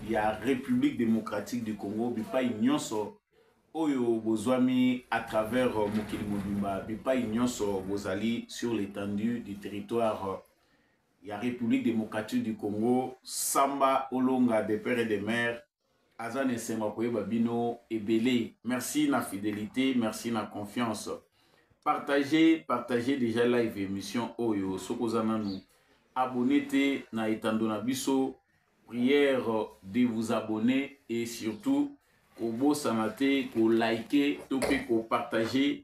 ya République démocratique du Congo bipai nyonso oyo bozwami à travers euh, mokili mobimba bipai nyonso bozali sur l'étendue du territoire euh, ya république démocratique du congo samba olonga de père et de mère aza na esengo ya koyeba bino ebele merci na fidélité merci na confiance partage partage déjà live émission oyo soki oza nanu abonne te na etando na biso Prière de vous abonner et surtout kobosana te ko liker to pe ko partager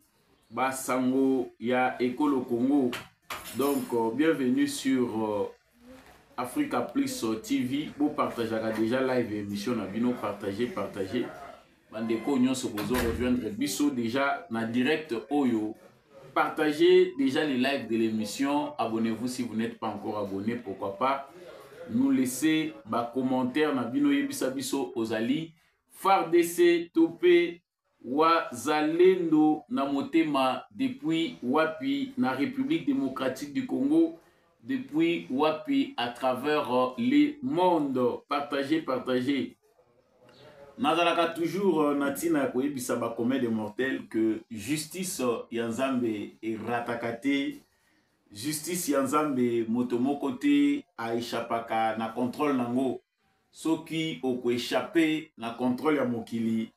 ba sango ya ekolo Congo. Donc euh, bienvenue sur euh, Africa Plus TV. Bo partageaka déjà live émission na bino partager partager. bandeko oyo nyonso bozo rejoindre biso déjà na direct oyo partagez déjà les lives de l'émission abonnez-vous si vous n'êtes pas encore abonné pourquoi pas nous laisser bacommentaire na bino yebisa biso ozali fardc to mpe wazalendo na motema depuis wapi na république démocratique du congo Depuis wapi à travers euh, le monde partager partager nazalaka toujours euh, na ntina ya koyebisa bacommun de mortel que justice euh, ya nzambe erataka te justice ya nzambe moto moko te aechapaka na contrôle nango soki okoechappe na controle ya mokili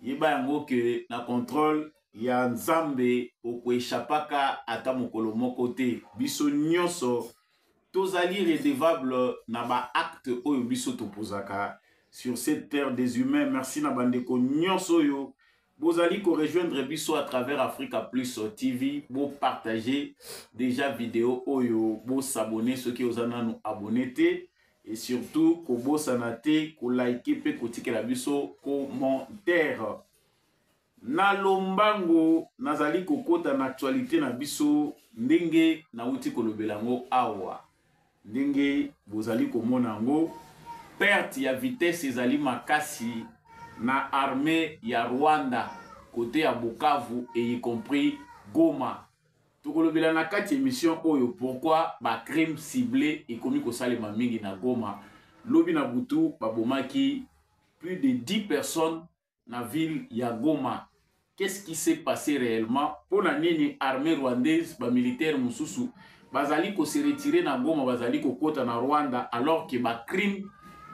yeba yango ke na controle ya nzambe okoechapaka ata mokolo moko te biso nyonso tozali redevable na baacte oyo biso topozaka sur cette terre des humains merci na bandeko nyonso oyo Bozali ko rejoindre biso à travers Africa Plus TV, bo partager déjà vidéo oyo, bo s'abonner soki oza nanu abonner te et surtout ko bosana te ko liker pe ko tikela biso commentaire. Na lombango nazali kokota na actualité na biso ndenge nauti kolobela yango awa. Ndenge bozali komona yango, perte ya vitesse ezali makasi na armee ya Rwanda kote ya Bukavu et y compris Goma. Tokolobela na kati emission oyo pourquoi ba crime cible ekomi kosalema mingi na Goma. Lobi na butu babomaki plus de 10 personnes na ville ya Goma. Qu'est-ce qui s'est passé réellement? Pona nini armée rwandaise ba militaires mususu bazali ko se retirer na Goma bazali kokota na Rwanda alors que ba crimes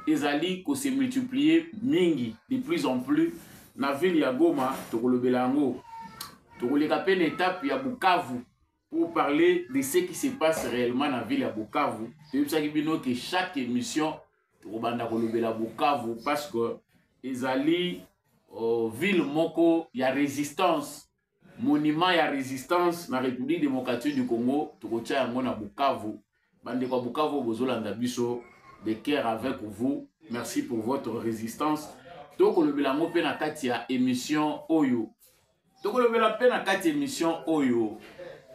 ezali ko se multiplier mingi de plus en plus na ville ya Goma tokolobela yango tokoleka pe na etape ya Bukavu pour parler de ce qui se passe réellement na ville ya bukavu toyebisaki bino ke chaque émission tokobanda kolobela bukavu parce que ezali uh, ville moko ya résistance monument ya résistance na république démocratique du congo tokotya yango na bukavu bandeko ya bukavu bozolanda biso de cœur avec vous merci pour votre résistance tokolobela yango mpe na kati ya émission oyo tokolobela mpe na kati ya émission oyo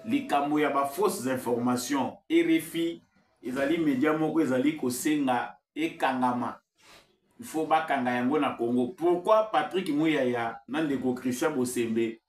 likambo ya bafausses informations rfi ezali media moko ezali kosenga ekangama il faut bakanga yango na congo pourquoi patrick muyaya na ndeko christian bosembe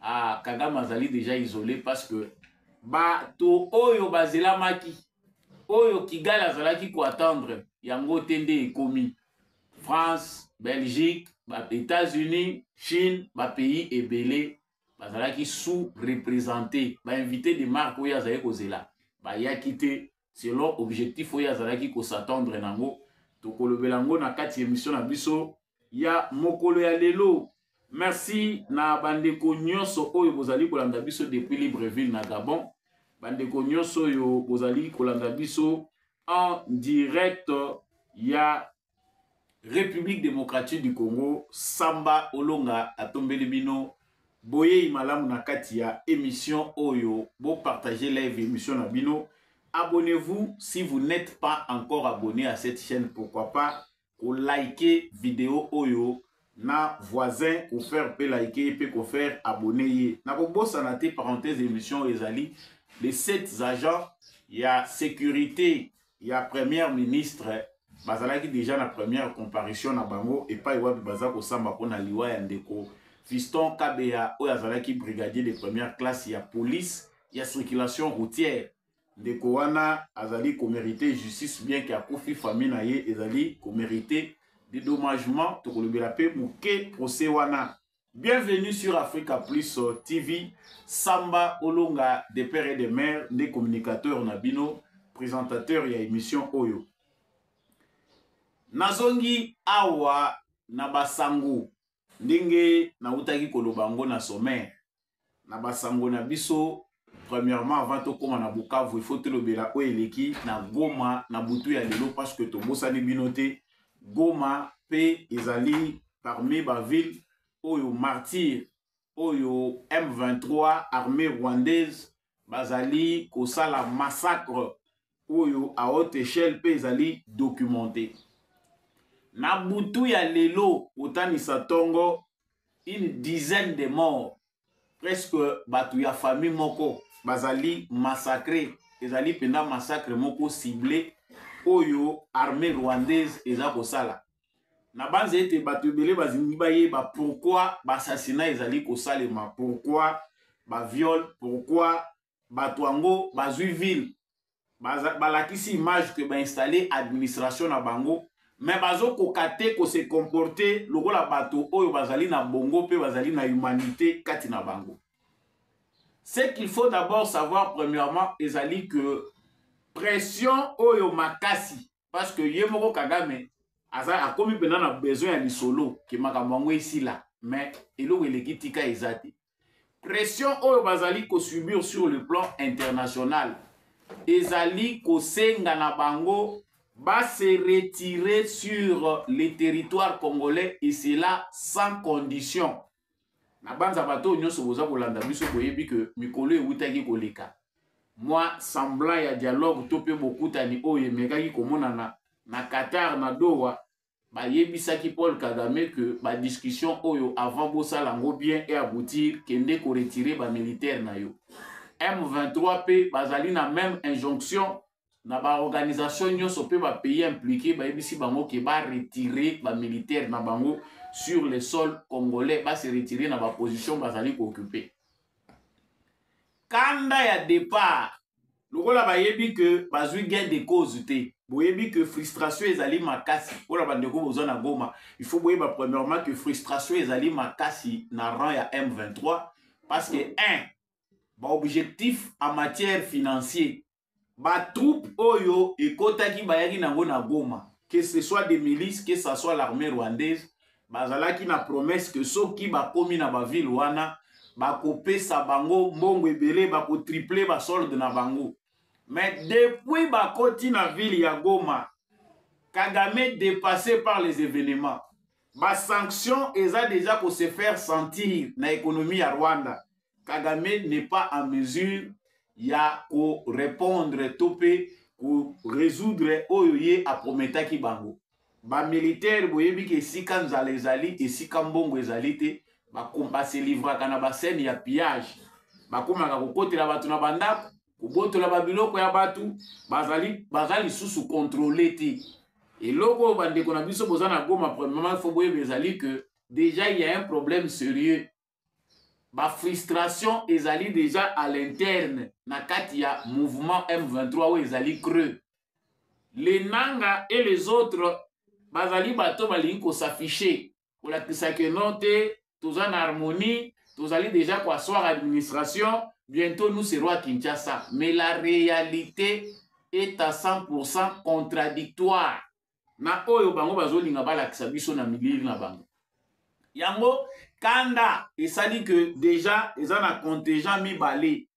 ah, kagame azali deja isole parce que bato oyo bazelamaki oyo kigali azalaki koattendre yango te nde ekomi france belgique états-unis chine bapays ebele bazalaki sous représente bainvité de marque oyo azalaki kozela bayaki te selon objectif oyo azalaki kosatendre nango tokolobela yango na kati ya emission na biso ya mokolo ya lelo merci na bandeko nyonso oyo bozali kolanda biso depuis libreville na gabon bandeko nyonso oyo bozali kolanda biso en direct ya Republique Democratique du Congo, Samba Olonga atombeli bino boyei malamu na kati ya émission oyo bo partager live émission na bino. Abonnez-vous si vous n'êtes pas encore abonné à cette chaîne, pourquoi pas ko liker vidéo oyo na voisin ko faire pe liker pe ko faire abonner ye. Na ko bossa na te parenthèse émission ezali les sept agents ya sécurité ya première ministre bazalaki déjà na première comparution na bango epai wapi baza kosamba mpo na liwa ya ndeko fiston kabeya oyo azalaki brigadier de première classe ya police ya circulation routière ndeko wana azali komerite justice bien ke akufi famille na ye ezali komerite dedommagement tokolobela mpe moke procès wana Bienvenue sur Africa Plus euh, TV. Samba Olonga de père et de mère, des communicateurs na bino, présentateur ya émission Oyo. Nazongi awa na basango ndenge nautaki koloba yango na sommaire na basango na biso premièrement avant tokóma na bukavu il faut tolobela oyo eleki na goma na butu ya lelo parce que tobosani bino te goma mpe ezali parmi baville oyo martyr oyo m23 armée rwandaise bazali kosala massacre oyo à haute échelle mpe ezali documenté na butu ya lelo kotanisa ntongo une dizaine de morts presque bato ya famille moko bazali massacre ezali mpenza massacre moko cible oyo armée rwandaise eza kosala nabanza ete bato ebele bazingi bayeba pourkui basassina ezali kosalema pourkui baviole pourkui bato yango bazwi ville balakisi image ke bainstalle administration na bango me bazokoka te kose comporte lokola bato oyo bazali na bongo mpe bazali na humanité kati na bango ce qu'il faut d'abord savoir premièrement ezali que pression oyo makasi parce que ye moko kagame aza akomi mpenza na besoin ya lisolo ke makambo yango esila mais eloko eleki tika eza te pression oyo bazali kosubir sur le plan international ezali kosenga na bango base retire sur le territoire congolais et cela sans condition nabanza bato oyo nyonso boza kolanda biso boyebi ke mikolo ewutaki koleka mwa semblant ya dialogue to mpe bokutani oyo emekaki komonana na qatar na doha bayebisaki paul kagame ke badiscussion oyo avant bosala yango bien e aboutir kende koretire bamilitaire na yo m23 mpe bazali na meme injonction na baorganisation nyonso mpe bapays impliqué bayebisi bango ke baretire bamilitaire na bango sur le sol congolais base retire na baposition bazali kooccupe kanda ya départ lokola bayebi ke bazwi gain de cause te boyebi ke frustration ezali makasi mpona bandeko boza na goma il faut boyeba premièrement ke frustration ezali makasi na rang ya m23 parce que 1 baobjectif en matière financier batroupe oyo ekotaki bayaki nango na goma que ce soit des milices que ce soit l'armée rwandaise bazalaki na promesse que soki bakomi na bavile wana bakopesa bango mbongo ebele bakotriple basolde na bango mais depuis bakoti na ville ya goma kagame dépassé par les événements basanction eza deja kose faire sentir na économie ya rwanda Kagame n'est pas en mesure ya ko répondre to pe ko résoudre oyo ye aprometaki bango. Ba militaires boyebi ke esika nzala ezali, esika mbongo ezali te, ba compas se livraka na ba scène ya pillage. Bakomaka kokotela bato na bandako, kobotola ba biloko ya bato, bazali baza lisusu contrôler te. Eloko oyo bandeko na biso boza na Goma, premièrement, il faut boyeba ezali que déjà il y a un problème sérieux ba frustration ezali deja à l'interne na kati ya mouvement M23 oyo ezali creux les nanga et les autres bazali bato balingi kosafiche kolakisa ke non te toza na harmonie tozali deja koaswar administration bientôt nous serons à kinshasa mais la réalité est à 100 contradictoire na oyo bango bazolinga balakisa biso na milili na bango yango kanda esali ke deja eza na contingent mibale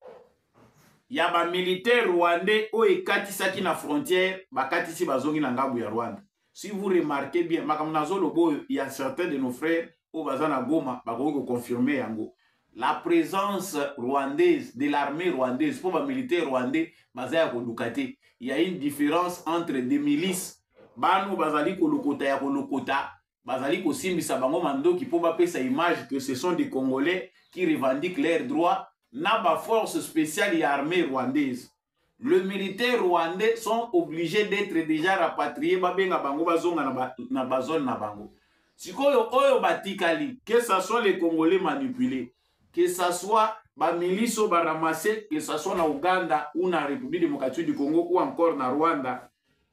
ya bamilitaire rwandais oyo ekatisaki na frontière bakatisi bazongi na ngambo ya rwanda si vous remarquez bien makambo nazoloba oyo ya certain de nos frères oyo baza na goma bakoki koconfirme yango la présence rwandaise de l'armée rwandaise mpo bamilitaire rwandais baza ya koluka te ya une différence entre des milices bano bazali kolokota ya kolokota bazali kosimbisa bango mandoki mpo bapesa image que ce sont des congolais qui revendiquent leurs droits na baforce spéciale ya armée rwandaise le militaire rwandais sont obligés d'être déjà rapatriés babenga bango bazonga na, ba, na bazone na bango sikoyo oyo batikali que ça soit les congolais manipulés que ça soit bamilisi oyo baramase que ça soit na ouganda ou na république démocratique du congo ou encore na rwanda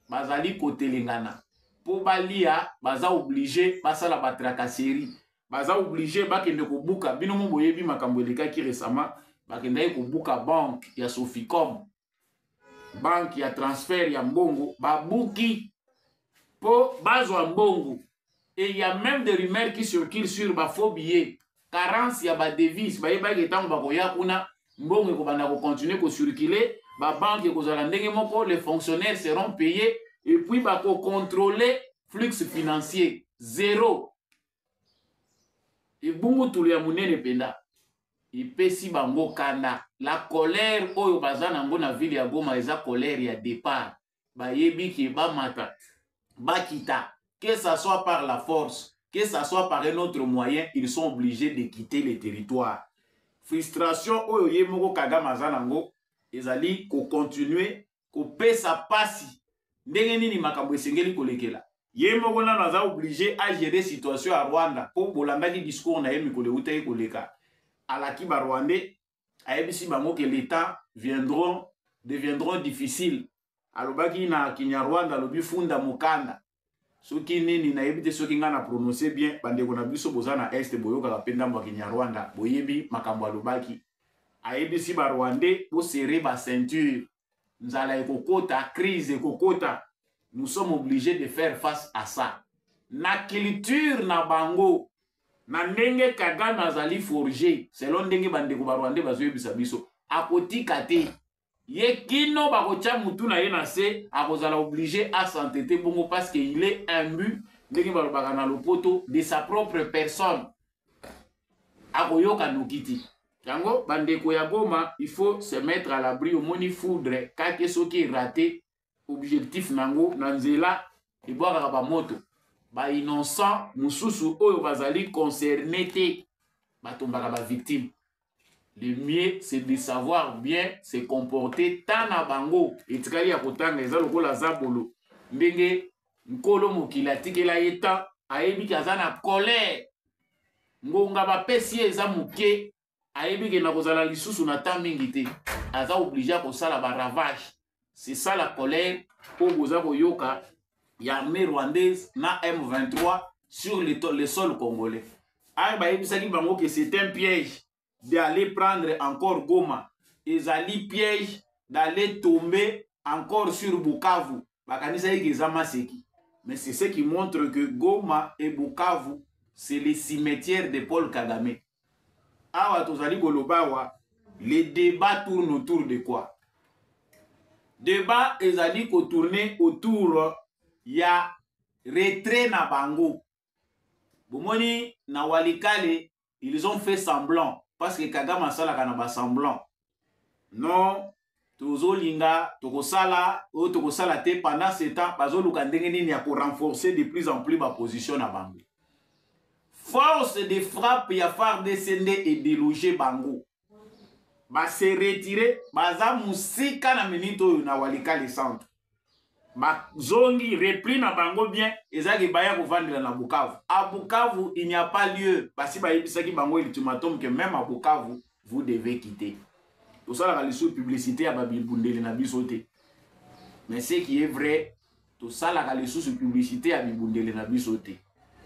bazali kotelengana mpo balia baza oblige basala batracasserie baza oblige bakende kobuka bino mo boyebi makambo elekaki récemment bakendaki kobuka banque ya soficom banque ya transfert ya mbongo babuki mpo bazwa mbongo et ya même des rumeurs qui circulent sur bafaux billet carence ya badevise bayebaki ntango bakoya kuna mbongo ekobanda kocontinue kocircule babanke ekozala ndenge moko les fonctionnaires seront payés et puis bakocontrole flux financier zero ebungutulu ya monene mpenza epesi bango kanda la colère oyo baza nango na ville ya goma eza colère ya départ bayebi ke bamata bakita que ça soit par la force que ça soit par un autre moyen ils sont obligés de quitter le territoire frustration oyo ye moko kagame aza nango ezali kocontinue kopesa mpasi ndenge nini makambo esengeli kolekela ye moko nano aza oblige agere situation ya rwanda mpo bolandaki discours na ye mikolo euta ye koleka alaki barwandais ayebisi bango ke l'etat viendront deviendront difficile alobaki na kinyarwanda alobi funda mokanda soki nini nayebi te soki ngai na prononce bien bandeko na biso boza na este boyokaka mpe ndambo ya kinyarwanda boyebi makambo alobaki ayebisi barwandais bosere baceinture nzala ekokota crise ekokota nous sommes obligés de faire face à ça na culture na bango na ndenge kagame azali forge selon ndenge bandeko barwandais bazoyebisa biso akotika te ye kino bakotya motu na ye na se akozala oblige asantete bongo parce que il est imbu ndenge balobaka na lopoto de sa propre personne akoyoka noki ti yango bandeko ya goma il faut se mettre à l'abri omoni foudre kake soki erate objectif na yango na nzela ebwakaka bamoto bainnocent mosusu oyo bazali concerne te batombaka bavictime le mieux c'est de savoir bien se comporter ta na bango etikali ya kotanga eza lokola zabolo ndenge nkolo mokili atikela ye temps ayebi ke aza na colère ngonga bapesi ye eza moke ayebi ke nakozala lisusu na temps mingi te aza oblige akosala baravage c'est ça la colère oyo boza koyoka ya armée rwandaise na m23 sur le, le sol congolais ayo bayebisaki bango ke c'est un piège d'aller prendre encore goma ezali piège d'aller tomber encore sur bukavu bakanisaki ke eza maseki mais c'est ce qui montre que goma et bukavu c'est le cimetière de paul kagame awa tozali koloba awa le débat tourne autour de quoi débat ezali kotourne autour ya retrait na bango bomoni na walikale ils ont fait semblant parce que kagame asalaka na basemblant non tozolinga tokosala oyo tokosala te pendant ce temps bazoluka ndenge nini ya korenforcer de plus en plus baposition na bango force de frappe ya fardc nde edeloge bango ba se retirer baza musika na minute oyo na walikale centre bazongi repli na bango bien ezaki baya kovandela na bukavu a bukavu il n'y a pas lieu basi bayebisaki bango ultimatum que même à bukavu vous devez quitter tosalaka lisusu publicité ya babibundeli na biso te mais ce qui est vrai tosalaka lisusu publicité ya bibundeli na biso te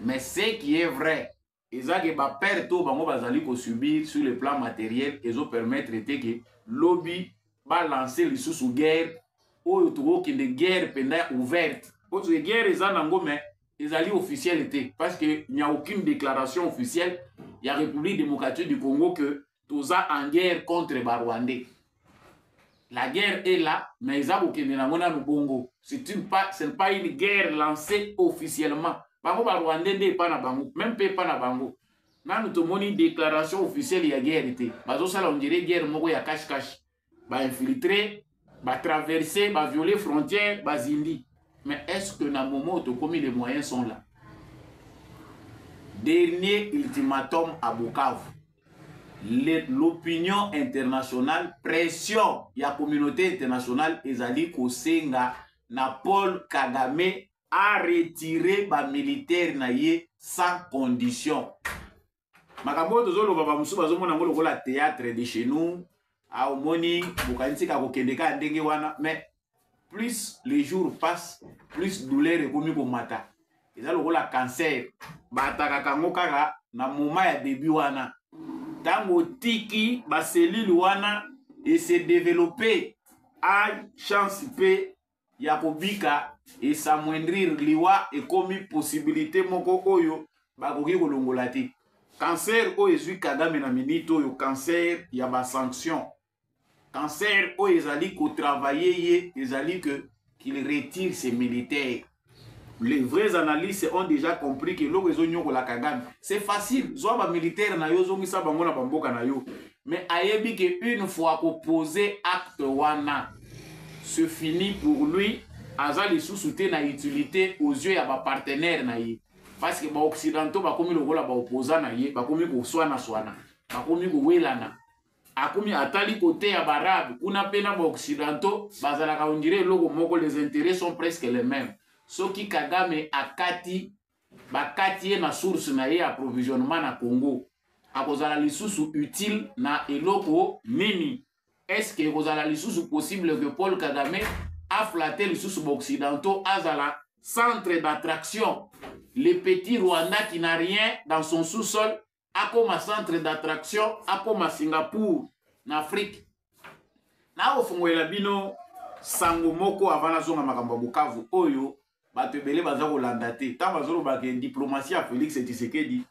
mais ce qui est vrai eza ke ba perte oyo bango bazali kosubir sur le plan materiel ezopermettre te ke lobi balance lisusu guerre oyo tokokende guerre mpenza ouverte mpo soki guerre eza nango me ezali officielle te parce que il n'y a aucune déclaration officielle ya république démocratique du congo que toza en guerre contre ba rwandais la guerre est là mais eza kokende nango nanu bongo c'est pas une guerre lancée officiellement bango ba rwandais nde epa na bango même mpe epa na bango nanu tomoni déclaration officielle ya guerre te bazosala ondire guerre moko ya cache cache ba infiltre ba traverser ba violer frontière ba zindi mais est-ce que na moment tokomi les moyens sont là dernier ultimatum à Bukavu l'opinion internationale pression ya communauté internationale ezali kosenga na Paul Kagame a retirer ba militaires na ye sans condition makambo oyo tozoloba bamosusu bazomona yango lokola théâtre de chez nous ah, omoni bokanisi ka kokende kaka ndenge wana mais plus le jour passe plus douleur ekomi komata eza lokola cancer baatakaka yango kaka na moma ya debut wana ntango otiki baselile wana esedevelope a chance mpe ya kobika esamwendrir liwa ekomi posibilite moko oyo bakoki kolongola te kanser oyo ezwi kagame na minite oyo kanser ya basanction kanser oyo ezali kotravaille ye ezali ke qu'il retire ses militaires les vrais analystes ont déjà compris que eloko ezonyokola kagame c'est facile zwa bamilitaire na yo ozongisa bango na bamboka na yo mais ayebi ke une fois kopose acte wana se fini pour lui aza lisusu te na utilité aux yeux ya bapartenaire na ye parce que baoccidentaux bakomi lokola baoposa na ye bakomi koswanaswana bakomi kowelana akomi atali kote ya barabe kuna mpe na baoccidentaux bazalaka ondire eloko moko les intérêts sont presque les mêmes soki kagame akati bakati ye na source na ye ya provisionnement na congo akozala lisusu utile na eloko nini eske ekozala lisusu possible que paul kagame aflate lisusu baoccidentaux azala centre d'attraction le petit rwanda qui n'a rien dans son sous-sol akoma centre d'attraction akoma singapour na afrique nakofungolela bino sango moko avant nazonga makambo ya bukavu oyo bato ebele baza kolanda te ntango bazoloba ke diplomatie ya félix tshisekedi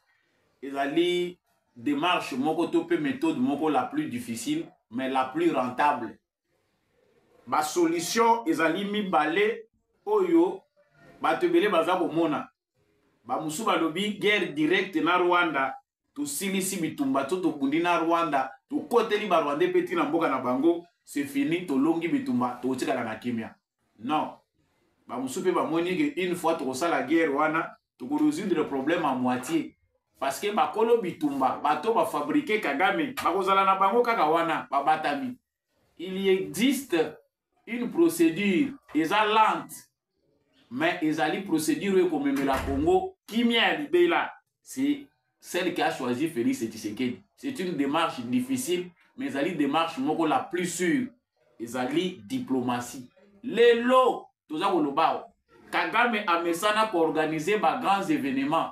ezali démarche moko to mpe méthode moko la plus difficile mais la plus rentable basolution ezali mibale oyo bato ebele baza komona bamosusu balobi guerre directe na rwanda tosilisi bitumba to tobundi na rwanda tokoteli barwandais mpe ntina mboka na bango se fini tolongi bitumba tokotikala na kimia non bamosusu mpe bamoni ke une fois tokosala guerre wana tokoresoudre problème a moitié parce que bakolo bitumba bato bafabrike kagame bakozala na bango kaka wana babatami il existe une procédure eza lente mais ezali procédure oyo ekomemela congo kimia ya libela c'est celle qui a choisi félix tshisekedi c'est une démarche difficile mais ezali démarche moko la plus sûre ezali diplomatie lelo toza koloba awa kagame amesana koorganize bagrands événements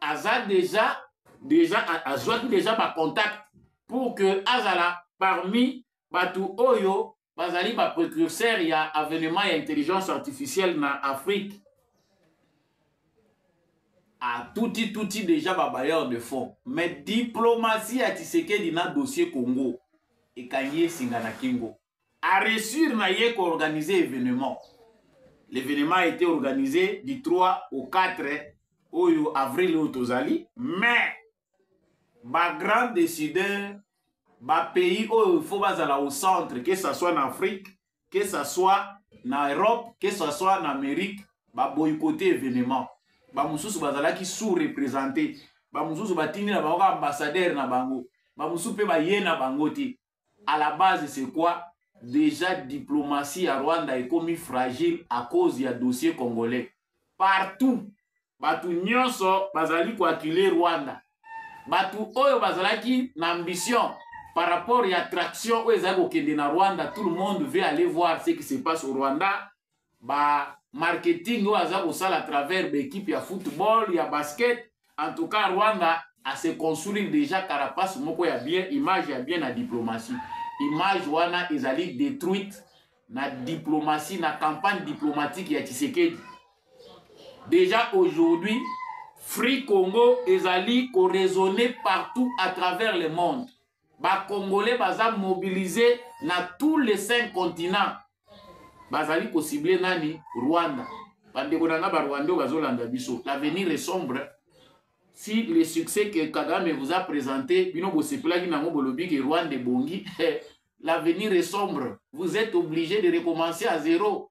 aza deja deja azwaki deja bacontact pour que azala parmi bato oyo bazali baprecurseur ya avenement ya intelligence artificielle na afrique atuti tuti deja babayeur de fond mais diplomatie ya tshisekedi na dossier congo ekangi ye singa na kingo a réussir na ye ko organiser événement l'événement a été organisé du 3 au 4 oyo avril oyo tozali mais ba grand décideur ba pays oyo il faut bazala au centre que ça soit na afrique que ça soit na europe que ça soit na amérique baboycote événement bamosusu bazalaki sous représenté bamosusu batindi na bango kaka ambassadeur na bango bamosusu mpe baye na bango te à la base c'est quoi déjà diplomatie ya rwanda ekomi fragile à cause ya dossier congolais partout bato nyonso bazali koakile rwanda bato oyo bazalaki na ambition par rapport ya attraction oyo ezali kokende na rwanda tout le monde veut aller voir ce qui se passe au rwanda ba marketing oyo aza kosala à travers baekipe ya football ya basket en tout cas rwanda ase construire déjà carapace moko ya bien image ya bien na diplomatie image wana ezali détruite na diplomatie na campagne diplomatique ya tshisekedi déjà aujourd'hui free congo ezali koraisonne partout à travers le monde ba congolais baza mobilise na tous les cinq continents bazali kosible nani rwanda bandeko na nga barwanda oyo bazolanda biso l'avenir est sombre si le succès que kagame vous a présenté bino bosepelaki nango bolobi ke rwanda ebongi l'avenir est sombre vous êtes obligé de recommencer à zéro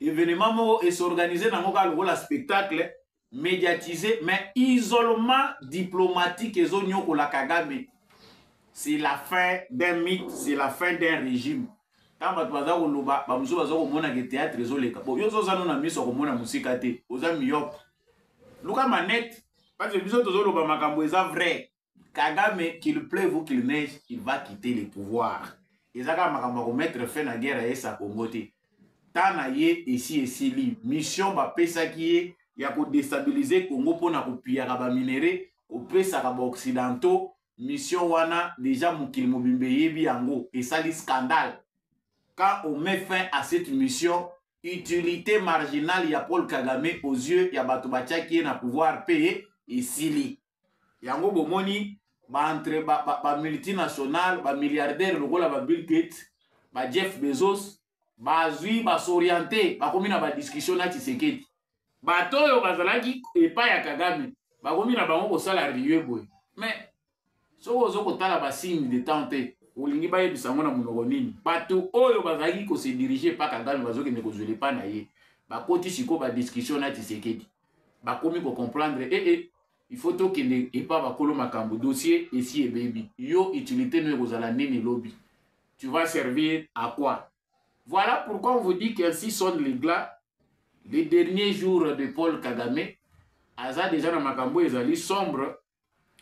evenement moko e s'organiser nango kaka lokola spectacle médiatisé mais isolement diplomatique ezonyokola kagame c'est la fin d'un mythe c'est la fin d'un régime ntango bato baza koloba bamosusu baza komonaka théâtre ezoleka bo yo ozoza no na miso ya komona mosika te oza miyope luka manete parce biso tozoloba makambo eza vrai kagame qu'il pleuve ou qu'il neige il va quitter le pouvoir eza kaka makambo ya komettre fin na guerre ya esa congo te temps na ye esi esili mission bapesaki ye ya kodestabilize congo mpo na kopiyaka baminere kopesaka baoccidentaux mission wana deja mokili mobimba eyebi yango esali scandale quand on met fin à cette mission utilité marginale ya paul kagame aux yeux ya bato batiaki ye na pouvoir mpe esili yango bomoni baentre bamultinationale ba, ba bamilliardaire lokola ba bill gate ba jeff bezos bazwi basoriente bakomi na badiskussion na tshisekedi bato oyo bazalaki epai ya kagame bakomi na bango kosala rie boye mais soki ozo kotala basigne de temps te olingi bayebisa yango na monoko nini bato oyo bazalaki kosedirige epa kagame bazokende kozwela epai na ye bakoti sikoyo badiskussion na tshisekedi bakomi ko comprendre eh eh il faut tokende epa bakolo makambo dossier esi ebebi yo utilité no ekozala nini lobi tu vas servir à quoi voilà pourquoi on vous dit qu'ainsi sonne les glas les derniers jours de paul kagame aza déjà na makambo ezali sombre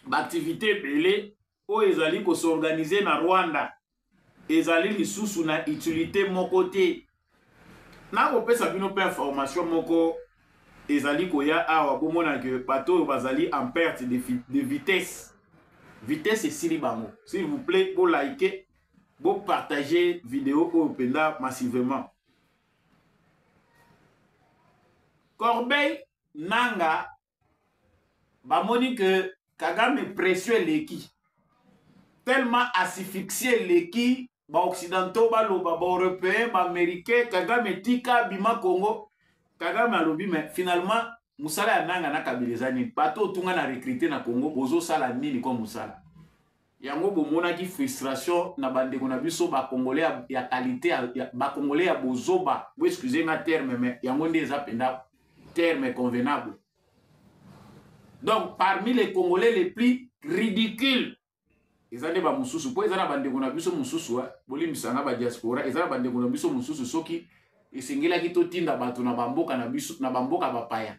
baaktivite ebele oyo ezali kosorganize na rwanda ezali lisusu na utilité moko te nakopesa bino mpe information moko ezali koya awa bomona ke bato oyo bazali en perte de, de vitesse vitesse esili bango s'il vous plaît bolike bopartage video oyo mpenza massivement corbeille nanga bamoni ke kagame pression eleki tellement asphyxie eleki baoccidentaux baloba baeuropéen baaméricain kagame tika bima congo kagame alobi me finalement mosala ya nanga na kabila eza nini bato otunga na recrute na congo bozosala nini ko mosala Yango bomonaki frustration na bandeko na biso bakongole ya, ya kalite ya, ya bakongole ya bozoba bo excuse nga terme me yango nde eza mpenza terme convenable donc parmi les congolais les plus ridicule eza nde bamosusu mpo eza na bandeko na biso mosusu eh, bolimbisa nga badiaspora eza na bandeko na biso mosusu soki esengelaki totinda bato na bamboka na biso na bamboka bapaya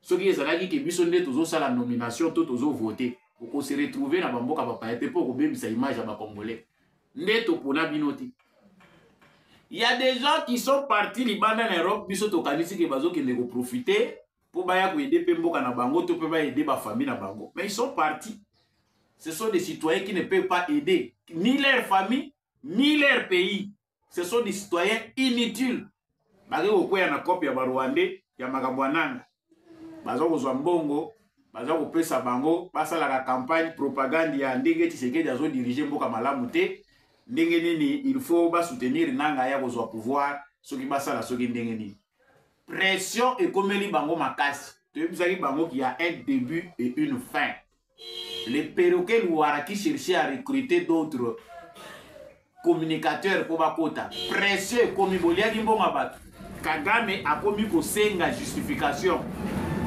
soki ezalaki ke biso nde tozosala nomination to tozo vote okose retrouve na bamboka bapaya te mpo okobebisa image ya bacongolais nde topona bino te ya des gens qui sont partis libanda na europe biso tokanisi ke bazokende koprofite mpo baya koyede mpe mboka na bango to mpe bayede bafamille na bango mais ils sont partis ce sont des citoyens qui ne peuvent pas aider ni leur famille ni leur pays ce sont des citoyens inutiles bake kokwea na cope ya barwandais ya makambo ya nanga baza kozwa mbongo baza kopesa bango basalaka campagne propagande ya ndenge tisekedi azodirige mboka malamu te ndenge nini il faut basoutenir nanga ya kozwa pouvoir soki basala soki ndenge nini pression ekomeli bango makasi toyebisaki bango qu'il y a un début et une fin le perroquet luwara qui cherchait à recruter d'autres communicateur mpo bakota presse ekomi boliaki mbongo bato kagame akomi kosenga justification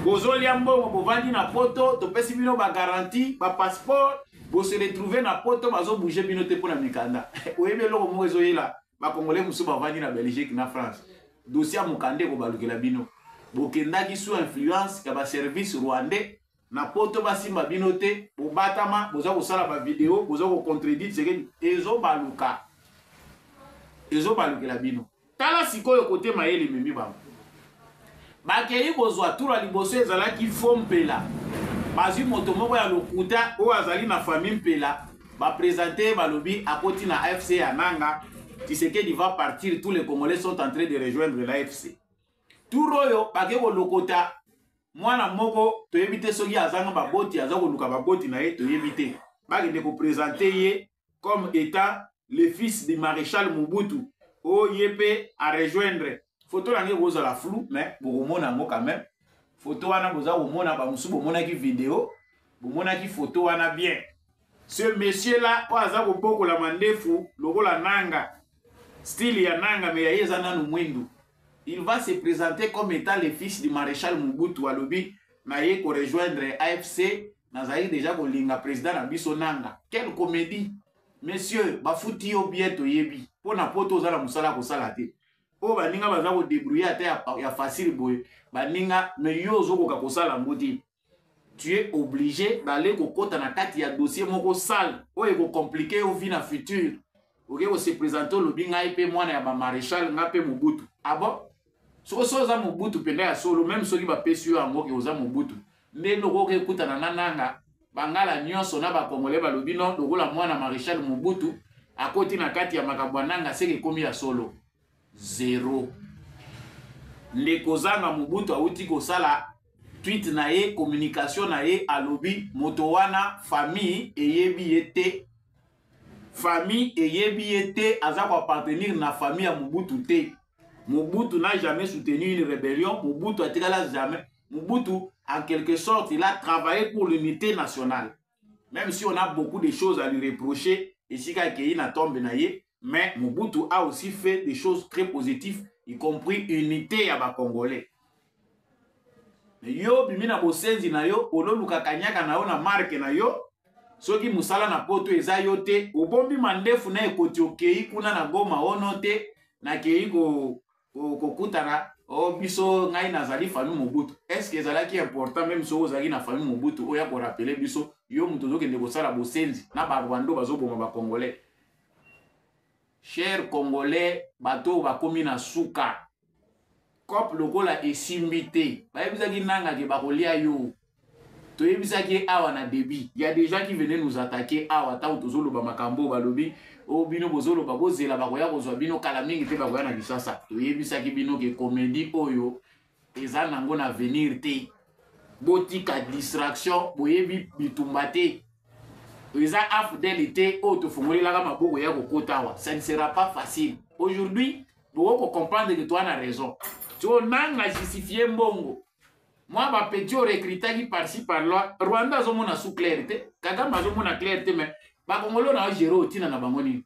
bozolia mbongo bovandi na poto topesi bino bagaranti bapasseport bose retrouve na poto bazobouge bino te mpo na mikanda oyebi eloko moko ezoyela bakongole mosusu bavandi na belgique na france dosie ya mokanda ekobalukela bino bokendaki sous influence ya baservice rwandais na poto basimba bino te bobatama boza kosala bavideo boza kocontredit tshisekedi ezobaluka ezobalukela bino tala sikoyo kote mayele ememi bango bakei kozwa tura liboso ezalaki fo mpela bazwi moto moko ya lokuta oyo azali na fami mpela baprezante ye balobi akoti na afc ya nanga tisekedi va partir tous les congolais sont en train de rejoindre la fc tour oyo bake kolokota mwana moko toyebi te soki azanga baboti aza koluka baboti na ye toyebi te bakende kopresente ye comme état le fils du maréchal mobutu oyo oh, ye mpe arejoindre foto na nge ekozala flou mais bokomona yango quand même foto wana boza komona bamosusu bomonaki video bomonaki foto wana bien ce monsieur là oyo aza kobokola mandefu lokola nanga style ya nanga me ya ye eza nanu mwindu il va se présenter comme étant le fils du maréchal mobutu alobi naye korejoindre afc nazali deja kolinga président na biso nanga quelle comédie monsieur bafuti yo bien toyebi mpo na poto oza na mosala ya kosala te oyo baninga baza kodebrouille ata ya, ya facile boye baninga me yo ozokoka kosala yango te tu es obligé d'aller kokota na kati ya dossier moko sale oyo ekocomplike yo vie na futur oke kose présente olobi ngai mpe mwana ya bamaréchal ngai mpe mobutu abo ah soki so oza mobutu mpenza ya solo meme soki bapesi yo yango ke oza mobutu nde loko oke ekutana na nanga bangala nyonso na bakongole balobi no lokola mwana maréchal mobutu akoti na kati ya makambo ya nanga seke ekomi ya solo zero nde kozanga mobutu awuti kosala tweet na ye communication na ye alobi moto wana famille eyebi ye te famille eyebi ye te aza koappartenir na famille ya mobutu te mobutu n'a jamais soutenu une rébellion mobutu atikala jamais mobutu en quelque sorte il a travaillé pour l'unité nationale Même si on a beaucoup de choses à lui reprocher, et si il na tombe na ye, mais Mobutu a aussi fait des choses très positives, y compris unité à ba Congolais. Mais yo bimi na bosenzi na yo, ololuka kanyaka na yo na marque na yo, soki musala na poto eza yo te, obombi mandefu na ekoti okei kuna na Goma ono te, na kei ko kokutana o oh, biso ngai nazali famille mobutu est ce que ezalaki important meme soki ozalaki na famille mobutu oya korapele biso yo moto ozokende kosala bosenzi na barwando bazoboma bacongolais cher congolais bato oyo bakomi na suka cope lokola esimbi te bayebisaki nangake bakolia yo toyebisaki ye awa na début ya des gens qui venaient nous attaquer awa ntango tozoloba makambo oyo balobi o oh, bino bozoloba bozela bakoya kozwa bino kala mingi te bakoya na lisasa toyebisaki bino ke komedi oyo eza nango na avenir te botika distraction boyebi bitumba te eza afdele te oyo tofungolelaka maboko ya kokota awa ça ne sera pas facile aujourd'hui bokoki kocomprendre ke toa na raison tio nanga justifie mbongo mwa ba petit oyo recrutaki parci par loi rwanda azomona sous claire te kagame azomona claire te mais bakongolo na ogere otina na bango nini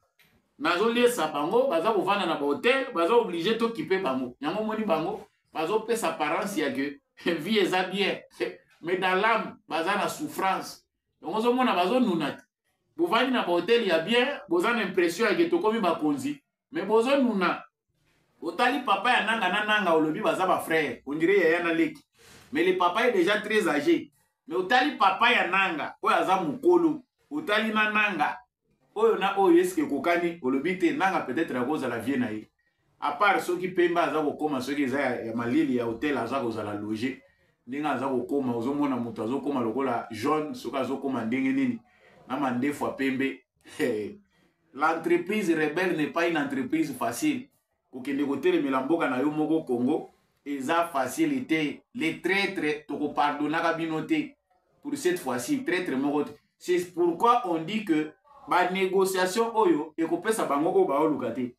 nazoliesa bango baza kovanda na bahotel baza oblige tokipe bango yango omoni bango bazopesa parence ya ke vie eza bien mais dans lame baza na souffrance yango ozomona bazonuna te bovandi na bahotel ya bien boza na impression ya ke tokomi bakonzi mais bozo nuna otali papa ya nanga na nanga olobi baza ba frère on dirait yaya na leki mais le papa est déjà très âgé mais otali papa ya nanga oyo aza mokolo otali na nanga oyo na oyo eske ekokani olobi te nanga peut-être akozala vie na ye apart soki pemba aza kokoma soki eza ya, ya malili ya hotel aza kozala loge ndenge aza kokoma ozomona moto azokoma lokola jaune soki azokoma ndenge nini na mandefu ya pembe L'entreprise rebelle n'est pas une entreprise facile. Kokende kotelemela mboka na yo moko Congo eza facile te. Les traîtres tokopardonnaka bino te pour cette fois-ci traître moko te. C'est pourquoi on dit que ba négociation oyo ekopesa bango oyo baoluka te.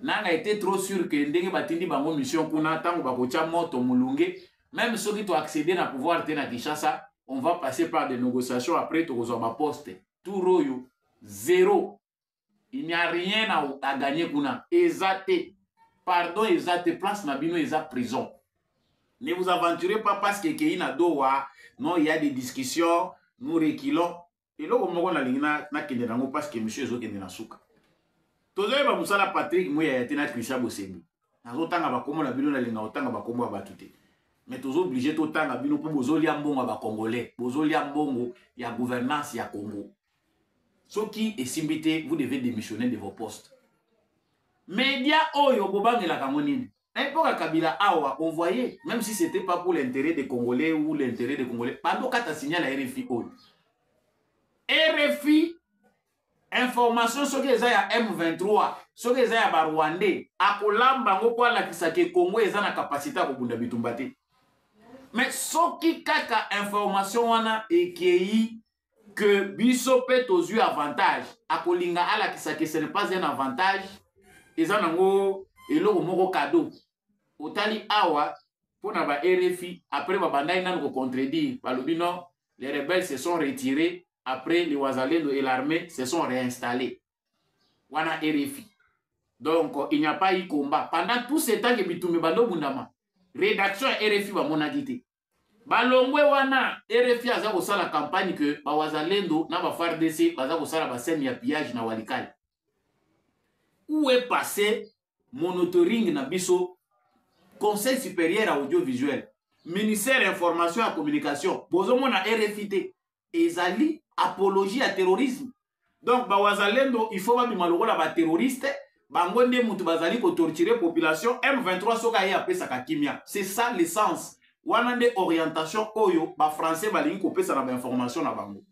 Nanga était trop sûr que ndenge batindi bango mission kuna tango bakotya moto mulunge même soki to accéder na pouvoir te na Kinshasa on va passer par des négociations après tokozwa ba poste tour oyo zero il n'y a rien à, à gagner kuna eza te pardon eza te place na bino eza prison ne vous aventurez pas parce que ekei na dowa non il y a des discussions nous reculons eloko moko nalingi nakende nango parce que monsieur ezokende na suka tozoyeba mosala patrik muyaya te na christian bosembi nazotanga bakombo na bino nalinga kotanga bakombo ya bato te mais tozooblige totanga bino mpo bozolia mbongo ya bacongolais bozolia mbongo ya gouvernance ya congo soki esimbi te vous devez démissionner de vos postes media oyo bobangelaka yango nini na epoka kabila awa on voyait même si c'était pas pour l'intérêt des congolais ou l'intérêt des congolais bando kata signal ya rfi oyo rfi information soki eza ya m23 soki eza ya barwandais akolamba yango mpo alakisa ke congo eza na kapasité ya kobunda bitumba te mais soki kaka information wana ekei que biso mpe tozwi avantage akolinga alakisa que ce n'est pas un avantage eza nango eloko moko cadeau otali awa mpo na ba rfi après babandaki nanu kocontredire balobi non les rebelles se sont retirés après les wazalendo et l'armée se sont réinstallés wana rfi donc il n'y a pas eu combat pendant tout ce temps ke bitumbi bandobundama rédaction ya rfi bamonaki te balongwe wana rfi aza kosala campagne ke bawazalendo na bafardc baza kosala baseme ya pillage na walikale où est passé monitoring na biso conseil supérieur ya audiovisuel ministère ya information ya communication bozomona rfi te ezali apologie ya terrorisme donc bawazalendo il faut babima lokola baterroriste bango nde moto bazali kotorture population m23 soki aye apesaka kimia c'est ça l'essence wana nde orientation oyo bafrançais balingi kopesa na bainformation na bango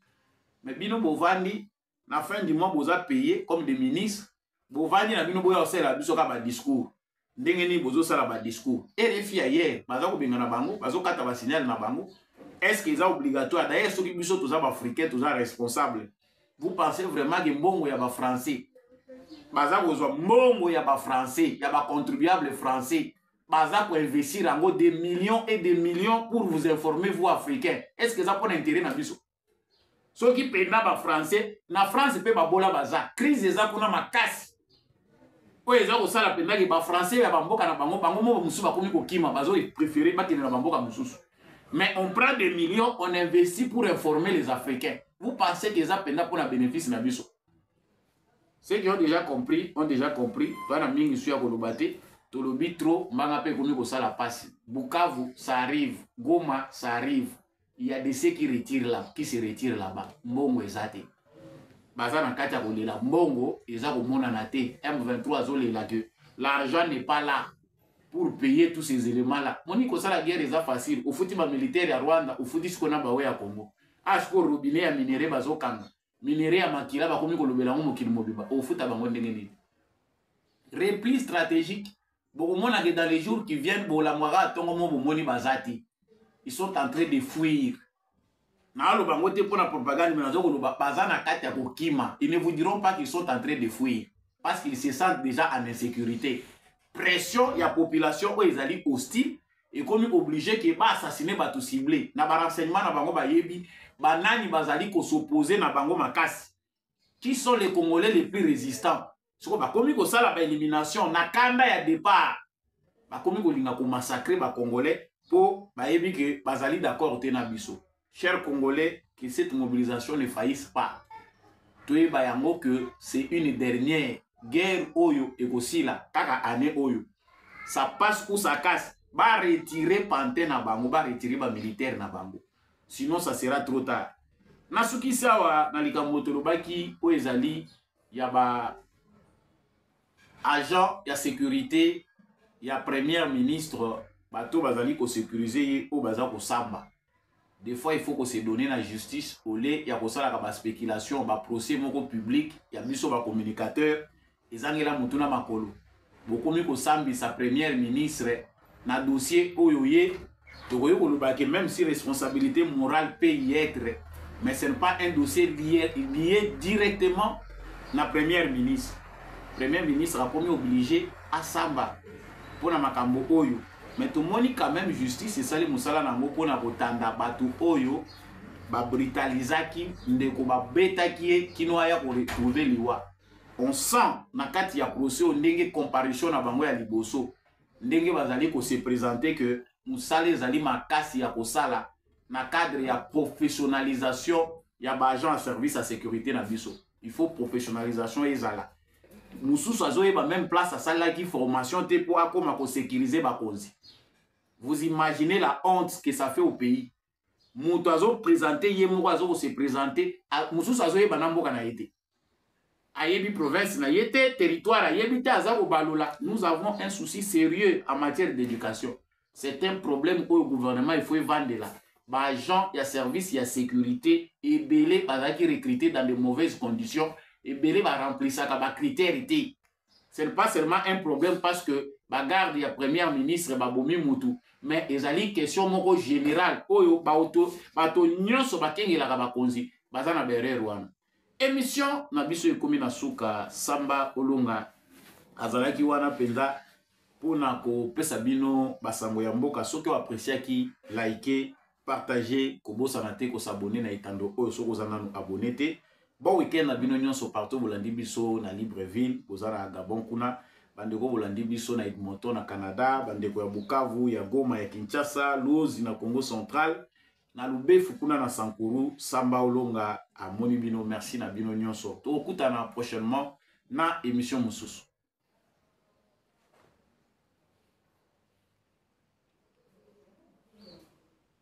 me bino bovandi na fin du mois boza paye comme des ministres bovandi na bino boya kosalela biso kaka badiscours ndenge nini bozosala badiscours rfi ya yere baza kobengana bango bazokata basignale na bango est ce que eza obligatoire dayer soki biso toza baafricain toza responsable vous pensez vraiment ke mbongo ya bafrançais baza kozwa mbongo ya bafrançais ya bacontribuable français baza koinvestir yango des millions et des millions pour vous informer vous africain est ce que eza mpona intérêt na biso soki mpenza ba français na france mpe babola baza crise eza kuna makasi oyo eza kosala mpenza ke ba français ya bamboka na bango bango moko mosusu bakomi kokima bazo préféré bakende na bamboka mosusu mais on prend des millions on investit pour informer les africains vous pensez que eza mpenza mpo na bénéfice na biso ceux qui ont déjà compris ont déjà compris toza na mingi su ya koloba te tolobi trop mbanga mpe ekomi kosala mpasi bukavu ça arrive goma ça arrive Il y a de ceux qui retirent là, qui se retirent là-bas. Mbongo eza te. Baza na kati ya kolela mbongo eza komonana te. M23 azolela que l'argent n'est pas là pour payer tous ces éléments là. Moni kosala guerre eza facile. Ofuti ba militaire ya Rwanda, ofuti siko na bawe ya Congo. Ah siko robinet ya minerais bazokanga. Minerais ya makila bakomi kolobela yango mokili mobimba. Ofuta bango ndenge nini? Repli stratégique bokomona ke dans les jours qui viennent bolamwaka ntongo mo bomoni baza te ils sont en train de fuir naaloba yango te mpo na propagande me nazo koloba baza na kati ya kokima ils ne vous diront pas qu'ils sont en train de fuir parce qu'ils se sentent déjà en insécurité pression ya population oyo ezali hostile ekomi oblige ke baassassine bato cible na barenseignement na bango bayebi banani bazali kosopoze na bango makasi qui sont les congolais les plus résistants soko bakomi kosala ba elimination na kanda ya départ bakomi kolinga komassacre bacongolais mpo bayebi ke bazali d'accord te na biso cher congolais que cette mobilisation ne faillisse pas toyeba yango que c'est une dernière guerre oyo ekosila kaka année oyo ça passe ou ça casse baretire pante na bango baretire bamilitaire na bango sinon ça sera trop tard nasukisi awa na likambo tolobaki oyo ezali ya ba agent ya securite ya première ministre bato bazali kosecurise ye oyo baza kosamba des fois il faut ko se donner na justice au lieu ya kosalaka ba spéculation ba procès moko public ya biso ba communicateur ezangela motu na makolo bokomi kosambisa première ministre na dossier oyo ye tokoki koloba ke même si responsabilité morale peut y être mais ce n'est pas un dossier lié, lié directement na première ministre première ministre akomi oblige asamba mpo na makambo oyo mais tomoni quand même justice esali mosala na yango mpo na kotanda bato oyo babritalizaki ndeko babetaki ye kino aya koretrouve liwa on sent na kati ya procès oyo ndenge comparution na bango ya liboso ndenge bazali kose présente ke mosala ezali makasi ya kosala na cadre ya professionnalisation ya baagent ya service ya sécurité na biso il faut professionnalisation ezala mosusu azoyeba même place asalaki formation te mpo akóma kosécurise bakonzi vous imaginez la honte que ça fait au pays moto azopresente ye moko azo kose presente mosusu azoyeba na mboka na ye te ayebi province na ye te territoire ayebi te aza kobalola nous avons un souci sérieux en matière d'éducation c'est un problème oyo gouvernement il faut evandela baagent ya service ya sécurité ebele bazalaki recruté dans de mauvaises conditions ebele baremplisaka bacritère te ce n'est pas seulement un problème parce que bagarde ya première ministre babomi mutu mais ezali question moko générale oyo bato, bato nyonso bakengelaka bakonzi baza na berere wana émission na biso ekomi na suka samba olonga azalaki wana mpenza mpo na kopesa bino basango ya mboka soki oapreciaki like partage kobosana te ko s'abonner na etando oyo soki oza nanu abonner te bon week-end na bino nyonso partout bolandi biso na libreville boza na gabon kuna bandeko bolandi biso na edmonton na canada bandeko ya bukavu ya goma ya kinshasa luozi na congo central na lubefu kuna na sankuru samba olonga amoni bino merci na bino nyonso tokokutana prochainement na émission mosusu